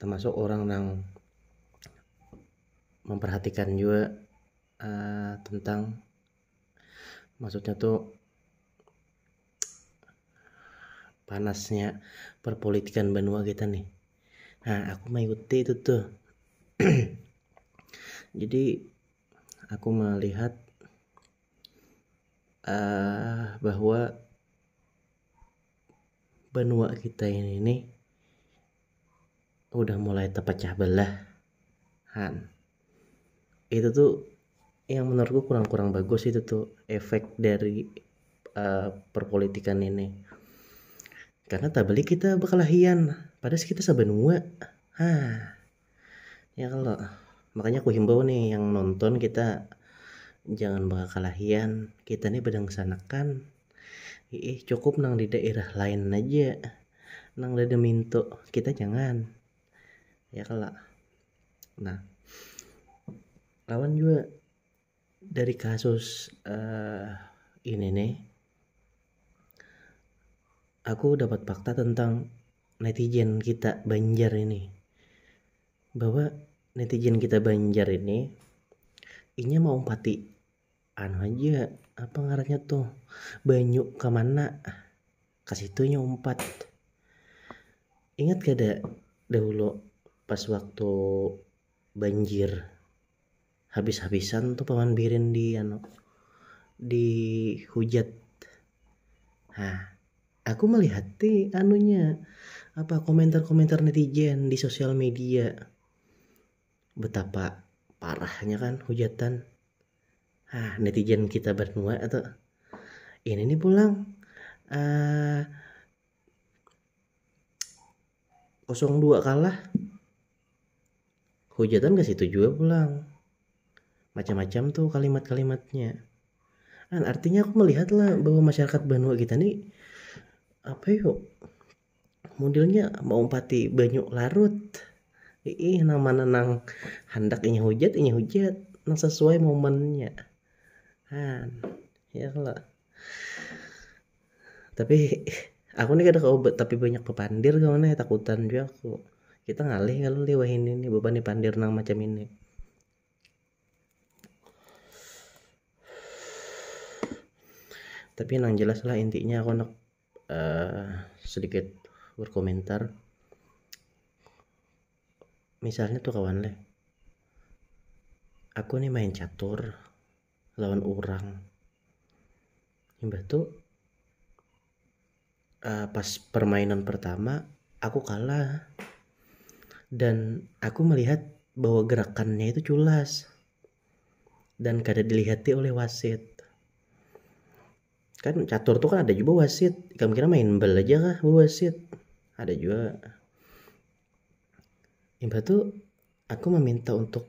tamasuk orang nang memperhatikan jua uh, tentang maksudnya tuh panasnya perpolitikan benua kita nih nah aku mengikuti itu tuh jadi aku melihat uh, bahwa benua kita ini nih udah mulai terpecah belah han itu tuh yang menurutku kurang-kurang bagus itu tuh efek dari uh, perpolitikan ini karena tak beli kita berkelahian padahal kita sebenua ha Ya kalau makanya aku himbau nih yang nonton kita jangan bakakalahian kita nih badangsanakan ih cukup nang di daerah lain aja nang lada minto kita jangan ya kalau nah lawan juga Dari kasus ini nih, aku dapat fakta tentang netizen kita Banjar ini. Bahwa netizen kita Banjar ini inya mau umpati anu aja apa ngarannya tuh banyu ke mana ke situ inya umpat. Ingat kada dahulu pas waktu banjir Habis habisan tu paman birin di anu di hujat hah aku malihat ti anunya apa komentar komentar netizen di sosial media betapa parahnya kan hujatan hah netizen kita banua tu ini ni pulang uh, kosong dua kalah hujatan ke situ juga pulang macam-macam tuh kalimat-kalimatnya kan artinya aku melihat lah bahwa masyarakat Banua kita nih apa yuk modelnya mau empati banyu larut ih nama nenang hendak inya hujat inya hujat nang sesuai momennya han ya lah tapi aku nih kada kawa tapi banyak bapandir kawan nih takutan jua aku kita ngalih kalu lih wahini nih bapandir pandir nang macam ini tapi nang jelas lah intinya aku handak uh, sedikit berkomentar misalnya tuh kawan leh aku nih main catur lawan urang imbah tu pas permainan pertama aku kalah dan aku melihat bahwa gerakannya itu culas dan kada dilihati oleh wasit kan catur tu kan ada juga wasit ikam kira main bal aja kah wasit ada juga imbah tu aku meminta untuk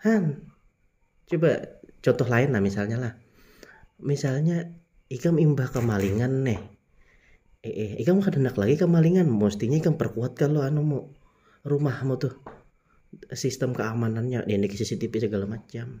Han, coba contoh lain lah misalnya lah. Misalnya ikam imbah kemalingan neh. Eh, eh ikam kada hendak lagi kemalingan, mestinya ikam perkuat kalau anu mu rumahmu tuh sistem keamanannya, ini CCTV segala macam.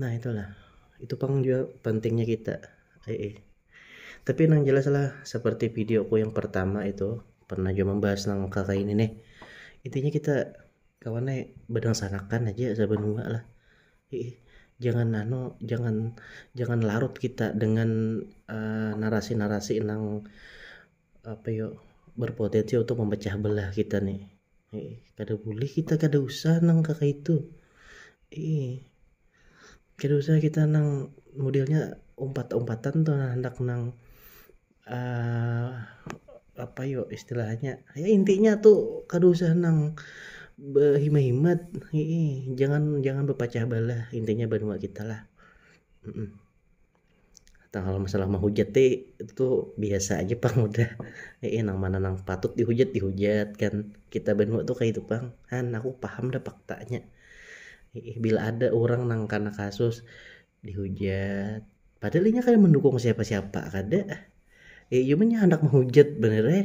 Nah itulah, itu pang juga pentingnya kita. Eh, eh. Tapi nang jelas lah, seperti videoku yang pertama itu, pernah juga membahas nang kakak ini nih. Intinya kita kawan nih bedang sanakan aja sebenua lah. Eh, eh. Jangan nano, jangan jangan larut kita dengan eh, narasi-narasi uh, nang apa yo berpotensi untuk memecah belah kita nih eh, kada boleh kita kada usah nang kaka itu eh kada usah kita nang modelnya umpat-umpatan tuh nah, hendak nang uh, apa yo istilahnya ya intinya tuh kada usah nang berhimat-himat jangan jangan berpecah belah intinya benua kita lah mm -mm. Tang kalo masalah mahujat ti itu biasa aja pang udah nang mana nang patut dihujat dihujat kan kita banua tu kaitu pang han aku paham dah paktanya bila ada urang nang kana kasus dihujat padahal inya kada mandukung siapa-siapa kada inya handak mahujat banar ai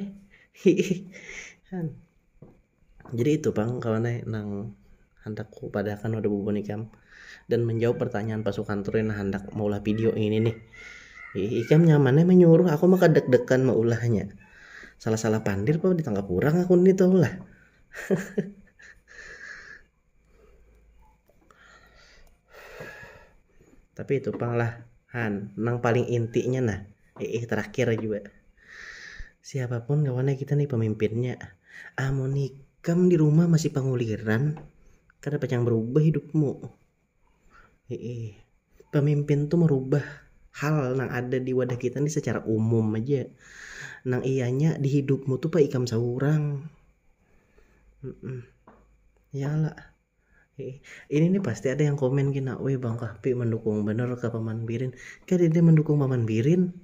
hiih han. Jadi itu pang kawan ai nang handak ku padah akan wadah bubuhan ikam dan menjawab pertanyaan pasukan true nang handak maulah video ini nih ikam nyaman ai menyuruh aku maka deg degan meulahnya salah salah pandir pang ditangkap urang aku nih tau lah. tapi itu pang lah han nang paling intinya nah eh terakhir juga siapapun kawannya kita nih pemimpinnya amun ikam di rumah masih panguliran kada pacang berubah hidupmu Heeh. Pemimpin tu merubah hal nang ada di wadah kita ni secara umum aja nang iyanya di hidupmu tu pa ikam seurang ya lah ini ni pasti ada yang komen gin nak weh bang kahfi mendukung banar ka paman birin kadada mendukung paman birin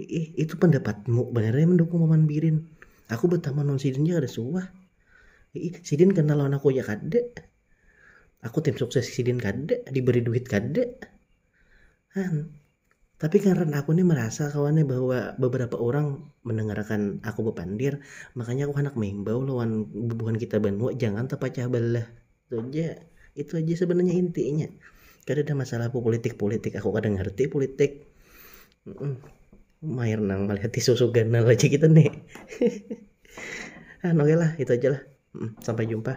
iih itu pendapatmu banar ai mendukung paman birin aku betaman lawan sidin ja kada suah iih sidin kenal lawan aku ja kada. aku tim sukses sidin kada diberi duit kada han tapi karena aku nih merasa kawannya bahwa beberapa orang mendengarkan aku bepandir makanya aku hendak mengimbau lawan bubuhan kita banua jangan terpecah belah itu aja itu aja sebenarnya intinya kada ada masalah aku politik politik aku kada ngerti politik mm mair nang melihat susu ganal aja kita nih ah oke lah itu aja lah sampai jumpa